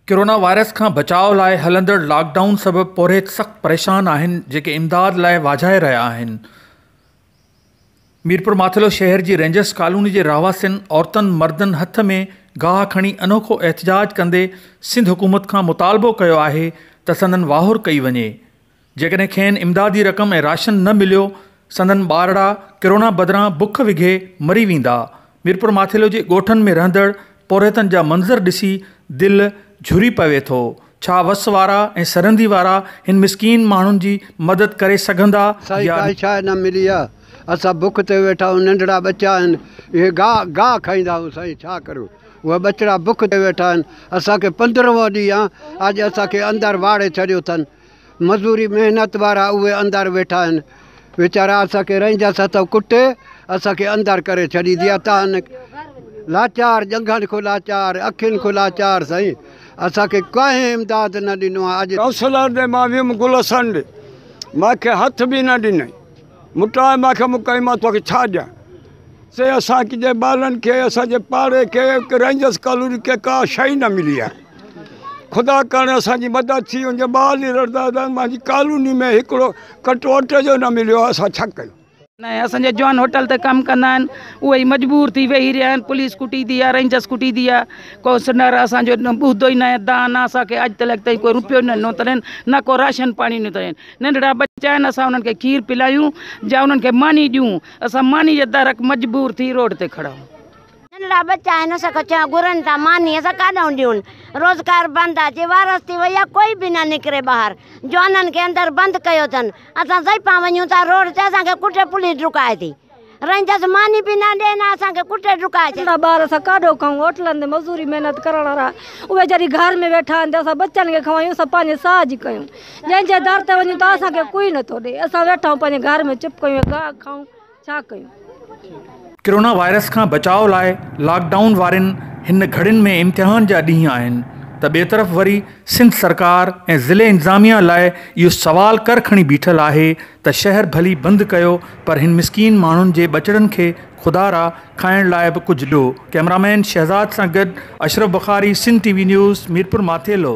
Corona virus کان بچاء لاء هلندڙ لاڪ ڊائون سبب پورهيت سخت پريشان آهن جيڪي امداد لاء واجهائي رهيا آهن ميرپورماٿيلو شهر جي رينجرس ڪالوني جي رهواسين عورتن مردن هٿ ۾ گاهه کڻي انوکو احتجاج ڪندي سنڌ حڪومت کان مطالبو ڪيو آهي ته سندن واهر ڪئي وڃي جيڪڏهن کين امدادي رقم ۽ راشن نه مليو سندن ٻارڙا ڪرونا بدران بک وگهي مري ويندا، ميرپورماٿيلو جي ڳوٺن ۾ رهندڙ پورهيتن جا منظر ڏسي دل جهري پوي ٿو، ڇا وس وارا ۽ سرندي وارا هن مسڪين ماڻهن جي مدد ڪري سگهندا سائين يا ڪائي شاء نه ملي آ اسان بک تي ويٺا آهيون ننڍڙا ٻچا آهن اهي گاهه گاهه کائيندا آهيون سائين ڇا ڪريون اهي ٻچڙا بک تي ويٺا آهن اسان کي پندرهون ڏينهن آ اڄ اسان کي اندر واڙي ڇڏيو اٿن مزوري محنت وارا اهي اندر ويٺا آهن ويچارا اسان کي رئنجس اٿو ڪٽ اسان کي اندر ڪري ڇڏي ديا تان لاچار جنگهن کان لاچار اکين کان لاچار سائين اسان کي ڪنهن امداد نه ڏنو آهي اڄ ڪائونسلر ڏي مان ويم گل حسن ڏي ماکي هٿ به نه ڏنائين مٽائي ماکي مڪائي مان توکي ڇا ڏيان سي اسان ڪجي ٻارن کي اسان جي پاڙي کي رينجرس ڪالوني کي ڪا شيء نه ملي آهي خدا ڪرڻ اسان جي مدد ٿي وڃي ٻار لي رڙدا دا مانجي ڪالوني ۾ هڪڙو ڪٽو اٽي جو نه مليو اسان ڇا ڪيون. نه اسان جي جوان هوٽل تي ڪم ڪندا آهن اهي ئي مجبور ٿي ويهي رهيا آهن پوليس ڪٽي ٿي يا رينجرس ڪٽي ٿي يا ڪو سنر اسان جو ٻڌو ئي ناهي دانهن نه اسان کي اڄ تلڪ تائين ڪو روپيو نه ڏنو اٿن نه ڪو راشن پاڻي ڏنو اٿن ننڍڙا ٻچا آهن اسان انهن کي کير پلائيون جا انهن کي ماني ڏيون اسان ماني جي درڪ مجبور ٿي روڊ تي کڙا آهيون. ننڍڙا ٻچا آهن اسان کي چيو گهرن ٿا ماني اسان ڪاڏانهن ڏيون روزگار بند آهي جي وارس ٿي وئي آهي ڪوئي به نه نڪري ٻاهر جوانن کي اندر بند ڪيو اٿن اسان ضعيفا وڃون ٿا روڊ تي اسان کي ڪٽي پوليس ڊڪائي ٿي. رهندس ماني به نه ڏين ها اسان کي ڪٽي ڊڪائي ڇڏين. اسان ٻار اسان ڪاڏو کائون هوٽلن تي مزوري محنت ڪرڻ وارا اهي جڏهن گهر ۾ ويٺا آهن ته اسان ٻچن کي کائون اسان پنهنجي ساهه جي ڪيون جنهن جي در تي وڃون ته اسان کي ڪوئي نٿو ڏي اسان ويٺا آهيون پنهنجي گهر ۾ چپ ڪيون ۽ گاهه کائون ڇا ڪيون. ڪرونا وائرس کان بچاء لاء لاڪ ڊائون وارين هن گهڙين ۾ امتحان جا ڏينهن آهن ته ٻئي طرف وري سنڌ سرڪار ۽ ضلعي انتظاميا لاء اهو سوال ڪر کڻي بيٺل آهي ته شهر ڀلي بند ڪيو پر هن مسڪين ماڻهن جي ٻچڙن کي خدا را کائڻ لاء به ڪجهه ڏو ڪئمرامين شهزاد سان گڏ Ashraf Bukhari Sindh T V news Mirpur Mathelo.